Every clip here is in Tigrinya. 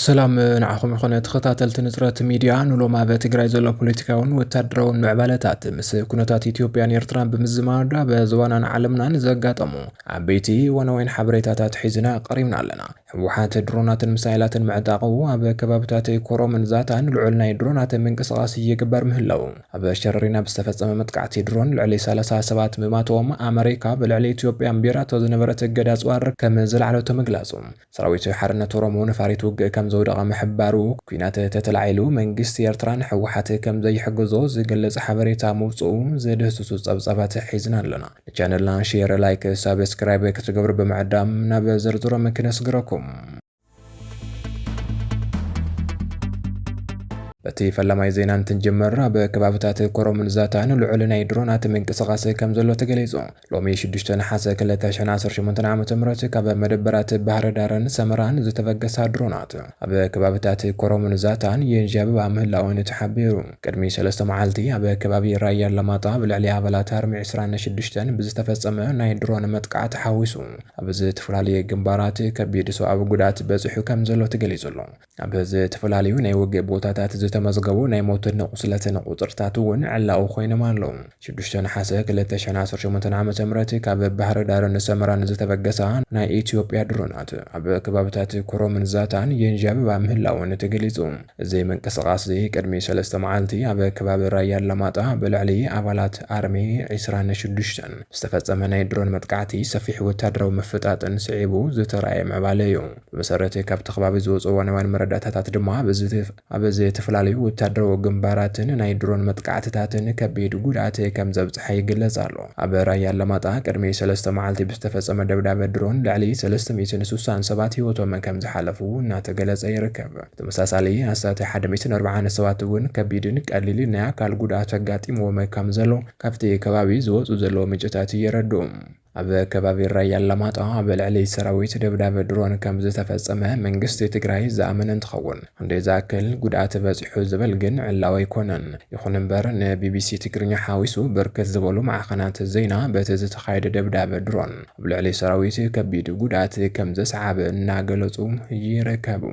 ሰላም ንዓኹም ይኹነ ተኸታተልቲ ንፅረት ሚድያ ንሎም ኣብ ትግራይ ዘሎ ፖለቲካውን ወታደራውን ምዕባለታት ምስ ኩነታት ኢትዮጵያን ኤርትራን ብምዝማድ ኣብ ዞባናን ዓለምናን ዘጋጠሙ ዓበይቲ ዋናወይን ሓበሬታታት ሒዝና ቀሪብና ኣለና ህወሓት ድሮናትን ምሳይላትን ምዕጣቑ ኣብ ከባብታት ኮሮምን ዛታን ልዑል ናይ ድሮናት ምንቅስቓስ ይግበር ምህላዉ ኣብ ሸረሪና ብዝተፈጸመ መጥቃዕቲ ድሮን ልዕሊ ሰላሳ ሰባት ምማቶም ኣመሪካ ብልዕሊ ኢትዮጵያ ኣንቢራቶ ዝነበረት እገዳ ኣጽዋር ከም ዘልዓለቶ ምግላጹ ሰራዊት ሓርነት ኦሮሞ ነፋሪት ውግእ ከም ዘውደቐ ምሕባሩ ኲናት ተተላዒሉ መንግስቲ ኤርትራ ንህወሓት ከም ዘይሕግዞ ዝገልጽ ሓበሬታ ምውጽኡ ዝድህስሱ ጸብጻባት ሒዝና ኣሎና። ቻነልና ሼር፣ ላይክ፣ ሳብስክራይብ ክትገብሩ ብምዕዳም ናብ ዝርዝሮም ክነስግረኩም። በቲ ፈላማይ ዜና እንትንጀምር ኣብ ከባብታት ኮረምን ዛታን ልዑል ናይ ድሮናት ምንቅስቓስ ከም ዘሎ ተገሊጹ። ሎሚ 6 ነሓሰ 2018 ዓ ም ካብ መደበራት ባህርዳርን ሰመራን ዝተበገሳ ድሮናት ኣብ ከባብታት ኮረምን ዛታን የንዣብባ ምህላወን'ዩ ተሓቢሩ። ቅድሚ ሰለስተ መዓልቲ ኣብ ከባቢ ራያ ኣላማጣ ኣብ ልዕሊ ኣባላት ኣርሚ ዕስራን ሽዱሽተን ብዝተፈጸመ ናይ ድሮን መጥቃዕቲ ሓዊሱ ኣብ ዝተፈላለየ ግንባራት ከቢድ ሰዋኣዊ ጉድኣት በጺሑ ከምዘሎ ተገሊጹ'ሎ። ኣብ ዝተፈላለዩ ናይ ውግእ ቦታታት ዝተመዝገቡ ናይ ሞትን ቁስለትን ቁጽርታት'ውን ዕላዊ ኮይኖም ኣለዉ። ሽዱሽተ ነሓሰ ክልተ ሽሕን ዓሰርተ ሸሞንተን ዓመተ ምህረት ካብ ባህር ዳር ንሰመራ ንዝተበገሳ ናይ ኢትዮጵያ ድሮናት ኣብ ከባብታት ኮረምን ዛታን የንዣብባ ምህላወን ተገሊጹ። እዚ ምንቅስቓስ'ዚ ቅድሚ ሰለስተ መዓልቲ ኣብ ከባቢ ራያ ኣላማጣ ብልዕሊ ኣባላት ኣርሚ ዕስራን ሽዱሽተን ዝተፈጸመ ናይ ድሮን መጥቃዕቲ ሰፊሕ ወተሃደራዊ ምፍጣጥን ስዒቡ ዝተራእየ ምዕባለ'ዩ። ብመሰረት ካብቲ ከባቢ ዝወጹ እዋናውያን መረዳእታታት ድማ ብዝተፈ ኣብ ዝተፈላለዩ ወታደራዊ ግንባራትን ናይ ድሮን መጥቃዕትታትን ከቢድ ጉድኣት ከም ዘብጽሐ ይግለጽ ኣሎ። ኣብ ራያ ኣላማጣ ቅድሚ ሰለስተ መዓልቲ ብዝተፈጸመ ደብዳበ ድሮን ልዕሊ ሰለስተ ሚእትን ስሳን ሰባት ህይወቶም ከም ዝሓለፉ እናተገለጸ ይርከብ። ብተመሳሳሊ ኣስታት ሓደ ሚእትን ኣርብዓን ሰባት እውን ከቢድን ቀሊልን ናይ ኣካል ጉድኣት ኣጋጢምዎም ከም ዘሎ ካብቲ ከባቢ ዝወጹ ዘለዉ ምንጭታት የረድኡ። ኣብ ከባቢ ራያ ኣላማጣ ኣብ ልዕሊ ሰራዊት ደብዳብ ድሮን ከምዝተፈፀመ መንግስቲ ትግራይ ዝኣመነ እንትኸውን ክንደይ ዝኣክል ጉድኣት በፂሑ ዝብል ግን ዕላዊ ኣይኮነን። ይኹን እምበር ንቢቢሲ ትግርኛ ሓዊሱ ብርክት ዝበሉ ማዕኸናት ዜና በቲ ዝተኻየደ ደብዳብ ድሮን ኣብ ልዕሊ ሰራዊት ከቢድ ጉድኣት ከምዘስዓበ እናገለፁ ይርከቡ።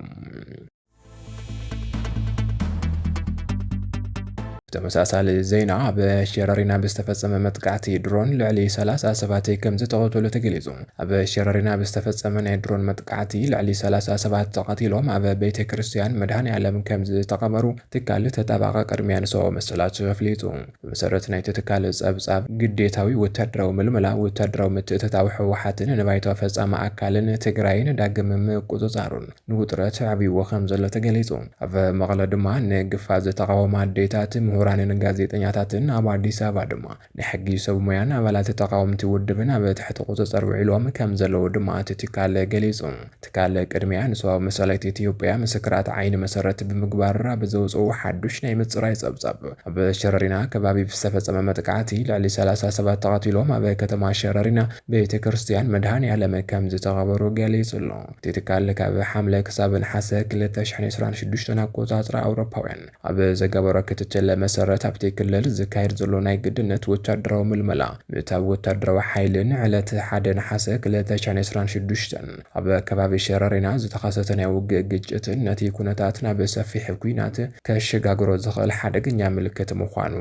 ተመሳሳሊ ዜና ኣብ ሸረሪና ብዝተፈጸመ መጥቃዕቲ ድሮን ልዕሊ 30 ሰባት ከም ዝተቐተሉ ተገሊጹ። ኣብ ሸረሪና ብዝተፈጸመ ናይ ድሮን መጥቃዕቲ ልዕሊ 30 ሰባት ተቐቲሎም ኣብ ቤተ ክርስቲያን መድሃን ዓለም ከም ዝተቐበሩ ትካል ተጣባቐ ቅድሚያ ንሰው መሰላት ኣፍሊጡ። ብመሰረት ናይቲ ትካል ጸብጻብ ግዴታዊ ወታደራዊ ምልመላ ወታደራዊ ምትእትታው ህወሓትን ንባይቶ ፈጻሚ ኣካልን ትግራይን ዳግም ምቁጽጻሩን ንውጥረት ኣዕብይዎ ከምዘሎ ተገሊጹ። ኣብ መቐለ ድማ ንግፋ ዝተቓወማ ኣዴታት፣ ምሁራንን ጋዜጠኛታትን ኣብ ኣዲስ ኣበባ ድማ ናይ ሕጊ ሰብ ሞያን ኣባላት ተቓወምቲ ውድብን ኣብ ትሕቲ ቁጽጽር ውዒሎም ከምዘለዉ ድማ እቲ ትካል ገሊጹ። ትካል ቅድሚያ ንሰባዊ መሰላት ኢትዮጵያ ምስክራት ዓይኒ መሰረት ብምግባር ኣብ ዘውጽኦ ሓዱሽ ናይ ምጽራይ ጸብጻብ ኣብ ሸረሪና ከባቢ ብዝተፈጸመ መጥቃዕቲ ልዕሊ ሰላሳ ሰባት ተቐቲሎም ኣብ ከተማ ሸረሪና ቤተ ክርስትያን መድሃኔ ኣለም ከምዝተቐበሩ ገሊጹ ኣሎ። እቲ ትካል ካብ ሓምለ ክሳብ ነሓሰ ክልተ ሽሕን ዕስራን ሽዱሽተን ኣቆጻጽራ ኣውሮፓውያን ኣብ ዝገበሮ ክትትል መሰረት ኣብቲ ክልል ዝካየድ ዘሎ ናይ ግድነት ወታደራዊ ምልመላ ምእታው ወታደራዊ ሓይሊ ን ዕለት ሓደ ነሓሰ ክልተ ሽሕን ዕስራን ሽዱሽተን ኣብ ከባቢ ሸረሪና ዝተኸሰተ ናይ ውግእ ግጭት ነቲ ኩነታት ናብ ሰፊሕ ኲናት ከሸጋግሮ ዝኽእል ሓደገኛ ምልክት ምዃኑ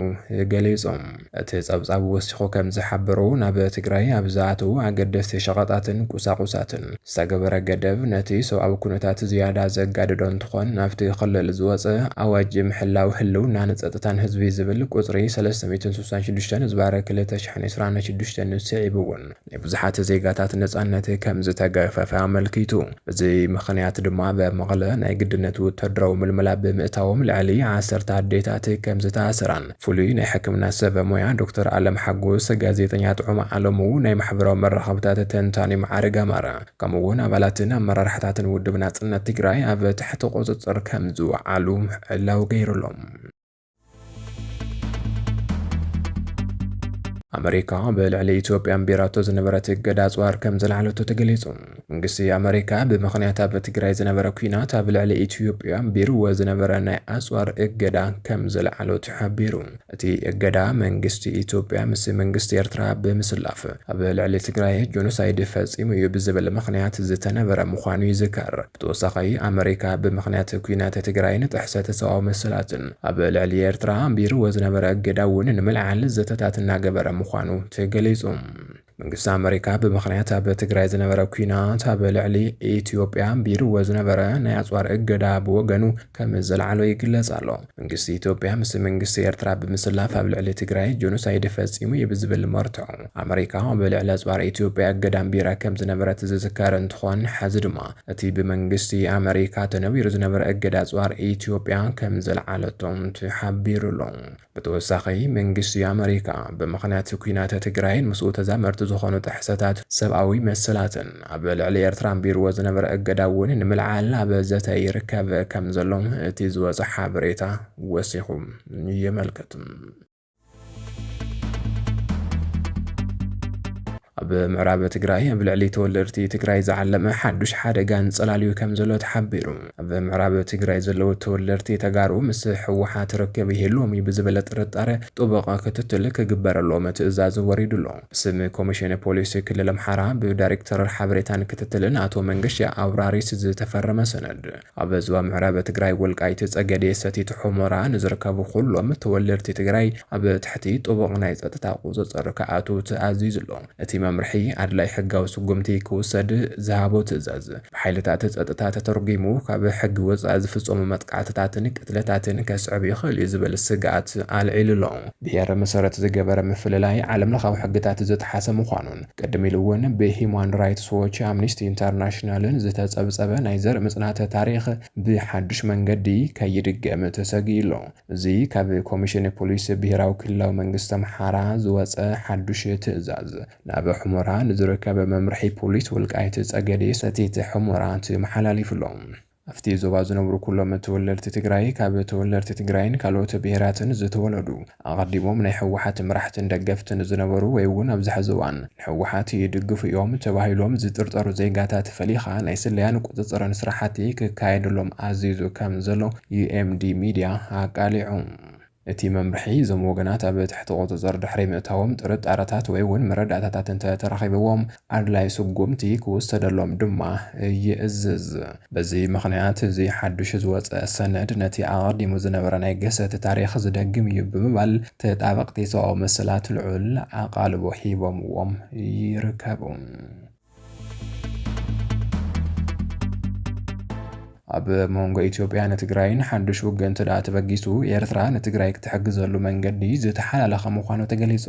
ገሊጾም። እቲ ጸብጻብ ወሲኹ ከም ዝሓበሮ፣ ናብ ትግራይ ኣብ ዝኣትው ኣገደስቲ ሸቐጣትን ቁሳቑሳትን ዝተገበረ ገደብ ነቲ ሰብኣዊ ኩነታት ዝያዳ ዘጋደዶ እንትኾን፣ ናብቲ ክልል ዝወጸ ኣዋጅ ምሕላው ህልውናን ጸጥታን ህዝቢ ዝብል ቁጽሪ ሰለስተ ሚእትን ስሳን ሽዱሽተን ህዝባር ክልተ ሽሕን ዕስራን ሽዱሽተን ስዒቡ እውን ናይ ብዙሓት ዜጋታት ነጻነት ከም ዝተገፈፈ ኣመልኪቱ። በዚ ምኽንያት ድማ ኣብ መቐለ ናይ ግድነት ወተሃደራዊ ምልመላ ብምእታዎም ልዕሊ ዓሰርተ ኣዴታት ከም ዝተኣሰራን ፍሉይ ናይ ሕክምና ሰብ ሞያ ዶክተር ኣለም ሓጎስ፣ ጋዜጠኛ ጥዑም ኣለሙ፣ ናይ ማሕበራዊ መራኸብታት ተንታኒ መዓርግ ኣማረ ከምኡ'ውን ኣባላትን ኣመራርሓታትን ውድብ ናጽነት ትግራይ ኣብ ትሕቲ ቁጽጽር ከም ዝወዓሉ ዕላዊ ገይሩ'ሎ። ኣመሪካ ብልዕሊ ኢትዮጵያ ኣንቢራቶ ዝነበረት እገዳ ኣጽዋር ከም ዘልዓለቶ ተገሊጹ። መንግስቲ ኣመሪካ ብምኽንያት ኣብ ትግራይ ዝነበረ ኩናት ኣብ ልዕሊ ኢትዮጵያ ኣንቢርዎ ዝነበረ ናይ ኣጽዋር እገዳ ከም ዘልዓሎ ተሓቢሩ። እቲ እገዳ መንግስቲ ኢትዮጵያ ምስ መንግስቲ ኤርትራ ብምስላፍ ኣብ ልዕሊ ትግራይ ጆኖሳይድ ፈጺሙ እዩ ብዝብል ምኽንያት ዝተነበረ ምዃኑ ይዝከር። ብተወሳኺ ኣመሪካ ብምኽንያት ኲናት ትግራይን ጥሕሰት ሰብኣዊ መሰላትን ኣብ ልዕሊ ኤርትራ ኣንቢርዎ ዝነበረ እገዳ እውን ንምልዓል ዘተታት እናገበረ ምዃኑ ተገሊፁ። መንግስቲ ኣመሪካ ብምኽንያት ኣብ ትግራይ ዝነበረ ኲናት ኣብ ልዕሊ ኢትዮጵያ ኣንቢርዎ ዝነበረ ናይ ኣፅዋር እገዳ ብወገኑ ከም ዘልዓሎ ይግለፅ ኣሎ። መንግስቲ ኢትዮጵያ ምስ መንግስቲ ኤርትራ ብምስላፍ ኣብ ልዕሊ ትግራይ ጆኖሳይድ ፈጺሙ እዩ ብዝብል መርትዖ ኣመሪካ ኣብ ልዕሊ ኣጽዋር ኢትዮጵያ እገዳ ኣንቢራ ከም ዝነበረት ዝዝከር እንትኾን ሐዚ ድማ እቲ ብመንግስቲ ኣመሪካ ተነቢሩ ዝነበረ እገዳ ኣጽዋር ኢትዮጵያ ከም ዘልዓለቶ ተሓቢሩ ኣሎ። ብተወሳኺ መንግስቲ ኣመሪካ ብምኽንያት ኲናት ትግራይን ምስኡ ተዛመድቲ ዝኾኑ ጥሕሰታት ሰብኣዊ መሰላትን፣ ኣብ ልዕሊ ኤርትራ ኣንቢርዎ ዝነበረ እገዳ እውን ንምልዓል ኣብ ዘተ ይርከብ ከም ዘሎ እቲ ዝወጸ ሓበሬታ ወሲኹ የመልክት። ኣብ ምዕራብ ትግራይ ኣብ ልዕሊ ተወለድቲ ትግራይ ዝዓለመ ሓዱሽ ሓደጋ እንጸላልዩ ከም ዘሎ ተሓቢሩ። ኣብ ምዕራብ ትግራይ ዘለዉ ተወለድቲ ተጋሩ ምስ ህወሓት ርክብ ይህልዎም እዩ ብዝበለ ጥርጣረ ጥቡቕ ክትትል ክግበረሎም ትእዛዝ ወሪዱ ኣሎ። ብስም ኮሚሽን ፖሊስ ክልል ኣምሓራ ብዳይሬክተር ሓበሬታን ክትትልን ኣቶ መንገሻ ኣውራሪስ ዝተፈረመ ሰነድ ኣብ ዞባ ምዕራብ ትግራይ ወልቃይት ፀገዴ ሰቲት ሑመራ ንዝርከቡ ኩሎም ተወለድቲ ትግራይ ኣብ ትሕቲ ጥቡቕ ናይ ፀጥታ ቁፅፅር ክኣትው ተኣዚዙ ኣሎ። እቲ መምርሒ ኣድላይ ሕጋዊ ስጉምቲ ክውሰድ ዝሃቦ ትእዛዝ ብሓይልታት ጸጥታ ተተርጒሙ ካብ ሕጊ ወጻኢ ዝፍጸሙ መጥቃዕትታትን ቅትለታትን ከስዕብ ይኽእል እዩ ዝብል ስግኣት ኣልዒሉ'ሎ። ብሄር መሰረት ዝገበረ ምፍልላይ ዓለምለኻዊ ሕግታት ዝጠሓሰ ምዃኑን ቅድም ኢሉ'ውን ብሂዩማን ራይትስ ዎች፣ ኣምኒስቲ ኢንተርናሽናልን ዝተጸብጸበ ናይ ዘርኢ ምጽናት ታሪኽ ብሓድሽ መንገዲ ከይድገም ተሰጊኡ'ሎ። እዚ ካብ ኮሚሽን ፖሊስ ብሄራዊ ክልላዊ መንግስቲ ኣምሓራ ዝወጸ ሓዱሽ ትእዛዝ፣ ናብ ሑመራ ንዝርከብ መምርሒ ፖሊስ ወልቃይት ፀገዴ ሰቲት ሑመራ ተመሓላሊፉ ኣሎ። ኣብቲ ዞባ ዝነብሩ ኩሎም ተወለድቲ ትግራይ ካብ ተወለድቲ ትግራይን ካልኦት ብሄራትን ዝተወለዱ ኣቐዲሞም ናይ ህወሓት መራሕትን ደገፍትን ዝነበሩ ወይ እውን ኣብዚ ሐዚ እዋን ንህወሓት ይድግፉ እዮም ተባሂሎም ዝጥርጠሩ ዜጋታት ፈሊኻ ናይ ስለያን ቁፅፅርን ስራሕቲ ክካየደሎም ኣዚዙ ከምዘሎ ዩኤምዲ ሚድያ ኣቃሊዑ። እቲ መምርሒ፣ እዞም ወገናት ኣብ ትሕቲ ቁጽጽር ድሕሪ ምእታዎም ጥርጣረታት ወይ'ውን መረዳእታታት እንተ ተረኺብዎም፣ ኣድላዪ ስጉምቲ ክውሰደሎም ድማ ይእዝዝ። በዚ ምኽንያት፣ እዚ ሓድሽ ዝወጸ ሰነድ ነቲ ኣቐዲሙ ዝነበረ ናይ ግህሰት ታሪኽ ዝደግም እዩ ብምባል ተጣበቕቲ ሰብኣዊ መሰላት ልዑል ኣቓልቦ ሂቦምዎም ይርከቡ። ኣብ መንጎ ኢትዮጵያ ንትግራይን ሓዱሽ ውግእን ትድኣ ተበጊሱ ኤርትራ ንትግራይ ክትሕግዘሉ መንገዲ ዝተሓላለኸ ምዃኑ ተገሊጹ።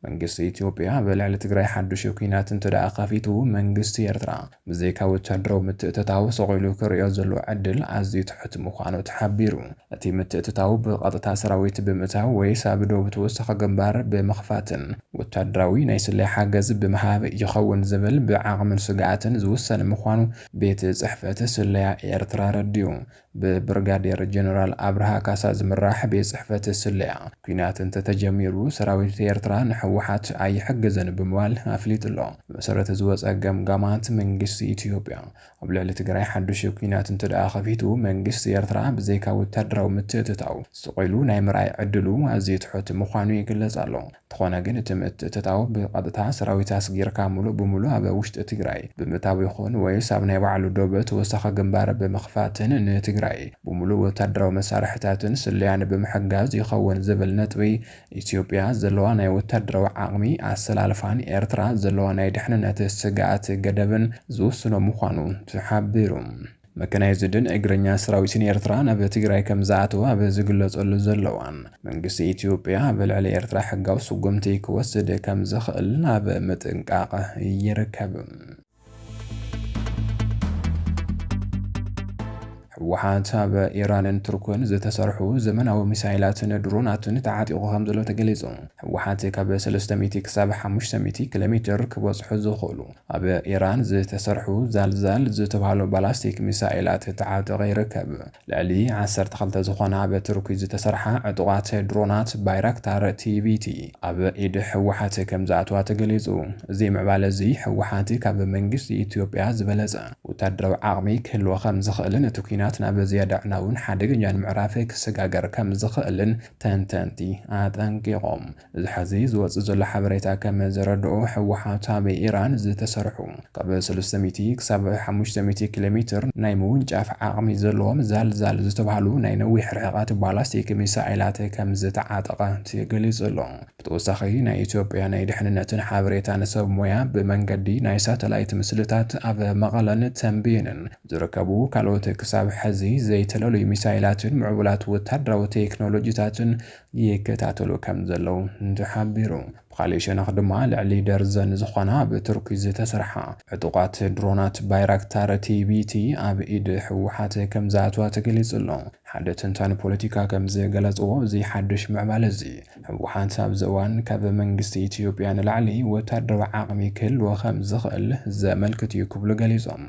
መንግስቲ ኢትዮጵያ ኣብ ልዕሊ ትግራይ ሓዱሽ ኩናት እንትድኣ ከፊቱ መንግስቲ ኤርትራ ብዘይካ ወታደራዊ ምትእትታው ስቕ ኢሉ ክርእዮ ዘለዎ ዕድል ኣዝዩ ትሑት ምዃኑ ተሓቢሩ። እቲ ምትእትታው ብቐጥታ ሰራዊት ብምእታው ወይስ ኣብ ዶብ ተወሳኺ ግንባር ብምኽፋትን ወታደራዊ ናይ ስለያ ሓገዝ ብምሃብ ይኸውን ዝብል ብዓቕምን ስግኣትን ዝውሰን ምዃኑ ቤት ጽሕፈት ስለያ ኤርትራ ኣረዲኡ። ብብርጋዴር ጀነራል ኣብርሃ ካሳ ዝምራሕ ቤት ጽሕፈት ስለያ፣ ኲናት እንተተጀሚሩ ሰራዊት ኤርትራ ንህወሓት ኣይሕግዝን ብምባል ኣፍሊጡ'ሎ። ብመሰረት ዝወጸ ገምጋማት መንግስቲ ኢትዮጵያ፣ ኣብ ልዕሊ ትግራይ ሓዱሽ ኲናት እንተድኣ ከፊቱ፣ መንግስቲ ኤርትራ ብዘይካ ወታደራዊ ምትእትታው፣ ስቕ ኢሉ ናይ ምርኣይ ዕድሉ ኣዝዩ ትሑት ምዃኑ ይግለጽ ኣሎ። እንተኾነ ግን እቲ ምትእትታው ብቐጥታ ሰራዊት ኣስጊርካ ምሉእ ብምሉእ ኣብ ውሽጢ ትግራይ ብምእታው ይኹን ወይስ ኣብ ናይ ባዕሉ ዶብ ተወሳኺ ግንባር ብምኽፋትን ንትግራይ ብምሉእ ወታደራዊ መሳርሕታትን ስለያን ብምሕጋዝ ይኸውን ዝብል ነጥቢ ኢትዮጵያ ዘለዋ ናይ ወታደራዊ ዓቕሚ፣ ኣሰላልፋን ኤርትራ ዘለዋ ናይ ድሕንነት ስግኣት ገደብን ዝውስኖ ምዃኑ ተሓቢሩ። መከናይዝድን እግረኛ ሰራዊትን ኤርትራ ናብ ትግራይ ከምዝኣተወ ኣብ ዝግለጸሉ ዘሎ እዋን፣ መንግስቲ ኢትዮጵያ ኣብ ልዕሊ ኤርትራ ሕጋዊ ስጉምቲ ክወስድ ከምዝኽእል ኣብ ምጥንቃቕ ይርከብ። ህወሓት ኣብ ኢራንን ቱርክን ዝተሰርሑ ዘመናዊ ሚሳይላትን ድሮናትን ተዓጢቑ ከም ዘሎ ተገሊጹ። ህወሓት ካብ ሰለስተ ሚእቲ ክሳብ ሓሙሽተ ሚእቲ ኪሎ ሜትር ክበጽሑ ዝኽእሉ ኣብ ኢራን ዝተሰርሑ ዛልዛል ዝተብሃሉ ባላስቲክ ሚሳይላት ተዓጠቐ ይርከብ። ልዕሊ ዓሰርተ ክልተ ዝኾና ብቱርኪ ዝተሰርሓ ዕጡቓት ድሮናት ባይራክታር ቲቢቲ ኣብ ኢድ ህወሓት ከምዝኣትዋ ተገሊፁ። እዚ ምዕባለ እዚ ህወሓት ካብ መንግስቲ ኢትዮጵያ ዝበለፀ ወታደራዊ ዓቕሚ ክህልዎ ከምዝኽእልን እቲ ኲናት ናብ ዝያዳ ኣዕናውን ሓደገኛን ምዕራፍ ክሰጋገር ከምዝኽእልን ተንተንቲ ኣጠንቂቖም። እዚ ሐዚ ዝወፅእ ዘሎ ሓበሬታ ከም ዘረድኦ ህወሓት ኣብ ኢራን ዝተሰርሑ ካብ ሰለስተ ሚእቲ ክሳብ ሓሙሽተ ሚእቲ ኪሎ ሜትር ናይ ምውንጫፍ ዓቕሚ ዘለዎም ዛልዛል ዝተብሃሉ ናይ ነዊሕ ርሕቐት ባላስቲክ ሚሳኤላት ከም ዝተዓጠቐ ተገሊፁ ኣሎ። ብተወሳኺ ናይ ኢትዮጵያ ናይ ድሕንነትን ሓበሬታን ሰብ ሞያ ብመንገዲ ናይ ሳተላይት ምስልታት ኣብ መቐለን ተምቤንን ዝርከቡ ካልኦት ክሳብ ሐዚ ዘይተለሉዩ ሚሳኤላትን ምዕቡላት ወታደራዊ ቴክኖሎጂታትን ይከታተሉ ከም ዘለዉ ተሓቢሩ። ብኻሊእ ሸነኽ ድማ ልዕሊ ደርዘን ዝኾና ኣብ ቱርኪ ዝተሰርሓ ዕጡቓት ድሮናት ባይራክታር ቲቢቲ ኣብ ኢድ ህወሓት ከም ዝኣትዋ ተገሊፁ ኣሎ። ሓደ ተንታኒ ፖለቲካ ከም ዝገለፅዎ እዚ ሓዱሽ ምዕባለ እዚ ህወሓት ኣብዚ እዋን ካብ መንግስቲ ኢትዮጵያ ንላዕሊ ወታደራዊ ዓቕሚ ክህልዎ ከም ዝኽእል ዘመልክት እዩ ክብሉ ገሊፆም።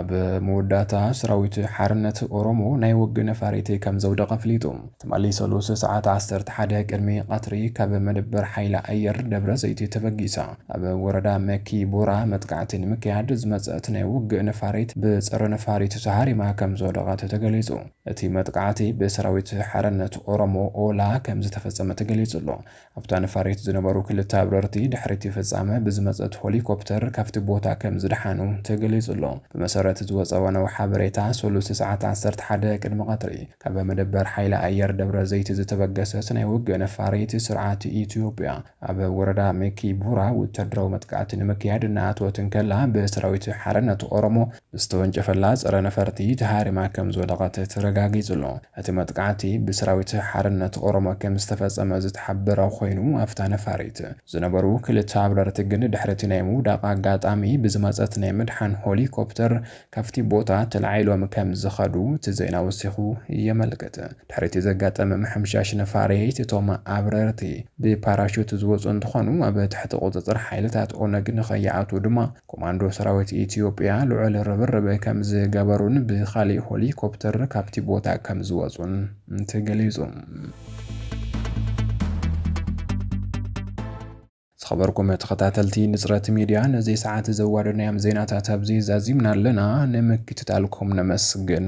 ኣብ መወዳእታ ሰራዊት ሓርነት ኦሮሞ ናይ ወግ ነፋሪት ከም ዘውደቐ ኣፍሊጡ። ትማሊ ሰሉስ ሰዓት 11 ቅድሚ ቐትሪ ካብ መደበር ሓይሊ ኣየር ደብረ ዘይቲ ተበጊሳ ኣብ ወረዳ መኪ ቦራ መጥቃዕቲ ንምክያድ ዝመፀት ናይ ውግእ ነፋሪት ብፀረ ነፋሪት ተሃሪማ ከም ዝወደቐት ተገሊፁ። እቲ መጥቃዕቲ ብሰራዊት ሓርነት ኦሮሞ ኦላ ከም ዝተፈፀመ ተገሊፁ ኣሎ። ኣብታ ነፋሪት ዝነበሩ ክልተ ኣብረርቲ ድሕሪ'ቲ ፍጻመ ብዝመጸት ሆሊኮፕተር ካብቲ ቦታ ከምዝደሓኑ ተገሊጹ'ሎ። ብመሰረት ዝወጸ እዋናዊ ሓበሬታ፣ ሰሉስ ሰዓት ዓሰርተ ሓደ ቅድሚ ቀትሪ፣ ካብ መደበር ሓይሊ ኣየር ደብረዘይቲ ዝተበገሰት ናይ ውግእ ነፋሪት ስርዓት ኢትዮጵያ፣ ኣብ ወረዳ ሚኪ ቡራ ወተሃደራዊ መጥቃዕቲ ንምክያድ እናኣተወት እንከላ ብሰራዊት ሓርነት ኦሮሞ ዝተወንጨፈላ ፀረ ነፈርቲ ተሃሪማ ከምዝወደቐት ተረጋጊፁ'ሎ። እቲ መጥቃዕቲ ብሰራዊት ሓርነት ኦሮሞ ከምዝተፈፀመ ዝተሓበረ ኾይኑ ኣፍታ ነፋሪት ዝነበሩ ክልተ ኣብረርቲ ግን ድሕሪ እቲ ናይ ምውዳቕ ኣጋጣሚ ብዝመፀት ናይ ምድሓን ሆሊኮፕተር ካፍቲ ቦታ ተላዒሎም ከምዝኸዱ እቲ ዜና ወሲኹ የመልክት። ድሕሪ እቲ ዘጋጠመ ምሕምሻሽ ነፋሪት እቶም ኣብረርቲ ብፓራሹት ዝወፁ እንትኾኑ ኣብ ትሕቲ ቁፅፅር ሓይልታት ኦነግ ንኸይኣትዉ ድማ ኮማንዶ ሰራዊት ኢትዮጵያ ልዑል ርብርብ ከምዝገበሩን ብኻሊእ ሆሊኮፕተር ካብቲ ቦታ ከምዝወፁን ተገሊፁ። ዝኸበርኩም ተኸታተልቲ ንጽረት ሚድያ ነዚ ሰዓት ዘዋደናዮም ዜናታት ኣብዚ ዛዚምና ኣለና። ንምክትታልኩም ነመስግን።